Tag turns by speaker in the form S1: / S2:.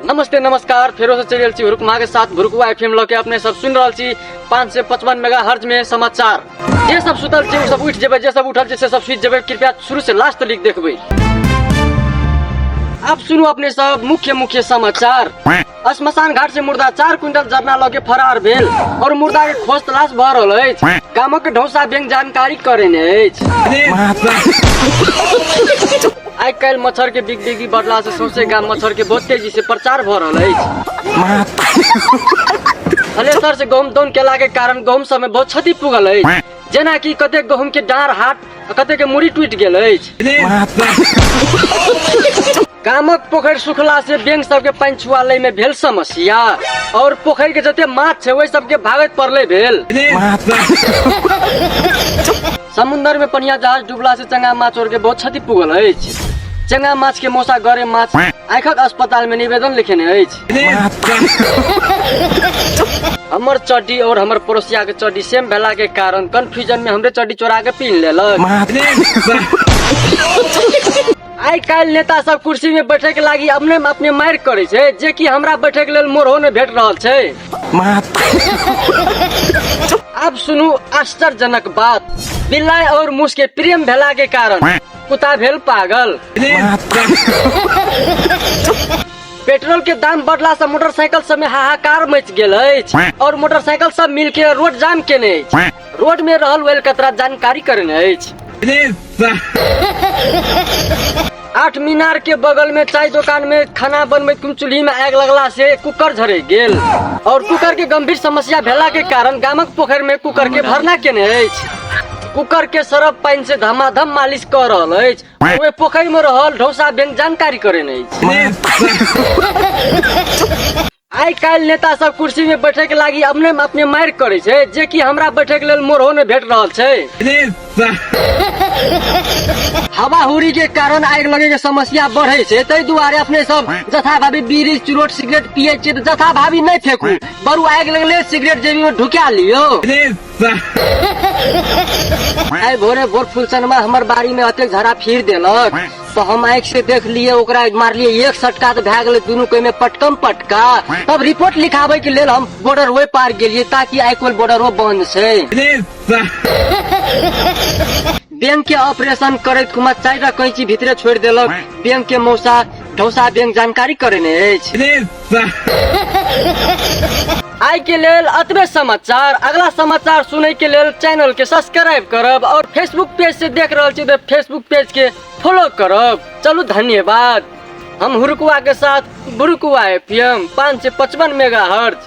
S1: नमस्ते नमस्कार फेरो से चलि रहल छी हुरुक माँ के साथ भुरुकुआ एफ एम लऽ के अपने सब सुनि रहल छी पाँच सौ पचपन मेगा हर्ज में समाचार जे सब सुतल छै ओ सब उठि जेबै जे सब उठल छै से सब सुति जेबै कृपया शुरू से लास्ट तक देखबै आब सुनू अपने सब मुख्य मुख्य समाचार श्मशान घाट से मुर्दा चार क्विंटल जरना लगे फरार भेल और मुर्दा के खोज तलाश भऽ रहल अछि गामक ढौसा बैंक जानकारी करेने अछि आइ काल्हि मच्छर के बिग बिगी बढ़ला से सौंसे गाम मच्छर के बहुत तेजी से प्रचार भऽ रहल अछि हलेसर से गहूम दौन केला के कारण गहूम सब में बहुत क्षति पुगल अछि जेना कि कते गहूम के डार हाट आ कते के मुड़ी टूटि गेल अछि गामक पोखरि सुखला से बैंक सबके पानि छुआ लय में भेल समस्या और पोखरि के जते माछ छै ओहि सबके भागत पड़ले भेल समुंदर में पनिया जहाज डूबला से चंगा माछ और के बहुत क्षति पुगल अछि चंगा माछ के मौसा गरे माछ आँखक अस्पताल में निवेदन लिखेने अछि हमर चड्डी और हमर पड़ोसिया के चड्डी सेम भेला के कारण कंफ्यूजन में हमरे चड्डी चोरा के पीन लेलक आइ काल्हि नेता सब कुर्सी में बैठे के लागी अपने में अपने मारि करे छै जे कि हमरा बैठे के लेल मोरहो ने भेट रहल छै आब सुनू आश्चर्यजनक बात बिलाय और मूस के प्रेम भेला के कारण कुत्ता भेल पागल पेट्रोल के दाम बढ़ला से मोटरसाइकिल सब में हाहाकार मच गेल अछि और मोटरसाइकिल सब मिल के रोड जाम केने अछि रोड में रहल वेल कतरा जानकारी करने अछि आठ मीनार के बगल में चाय दुकान में खाना बनबे कुम चूल्ही में आग लगला से कुकर झरे गेल और कुकर के गंभीर समस्या भेला के कारण गामक पोखर में कुकर के भरना केने अछि कुकर के सरफ पानि से धमाधम मालिश कऽ रहल अछि ओहि पोखरि में रहल ढौसा बैंक जानकारी करे नहीं आई कल नेता सब कुर्सी में बैठे के लागी अपने अपने मार करे छे जे कि हमरा बैठे के लेल मोरहो ने भेट रहल छे हवा हुरी के कारण आग लगे के समस्या बढ़े छे तै दुआरे अपने सब जथा भाभी बीड़ी चुरोट सिगरेट पिए छे जथा भाभी नहीं फेकू बरु आग लगले सिगरेट जेबी में ढुका लियो आइ भोरे भोर फुलसनमा हमर बाड़ी में अतेक झरा फिर देलक तो हम आँख से देख लिए ओकरा मारलिए एक सटका तो भए गेलै दुनू कोई में पटकम पटका तब रिपोर्ट लिखाबे के लेल हम बॉर्डर वे पार गेलिए ताकि आइ कोल बॉर्डर वो बंद छै बैंक के ऑपरेशन करैत कुमार चारि टा कैंची भीतरे छोड़ि देलक बैंक के मौसा ढौसा बैंक जानकारी करे ने अछि आइ के लेल अतबे समाचार अगला समाचार सुनै के लेल चैनल के सब्सक्राइब करब और फेसबुक पेज से देख रहल छी तो फेसबुक पेज के फॉलो करब चलू धन्यवाद हम हुरुकुआ के साथ बुरुकुआ एफ एम पाँच सौ पचपन मेगा हर्ज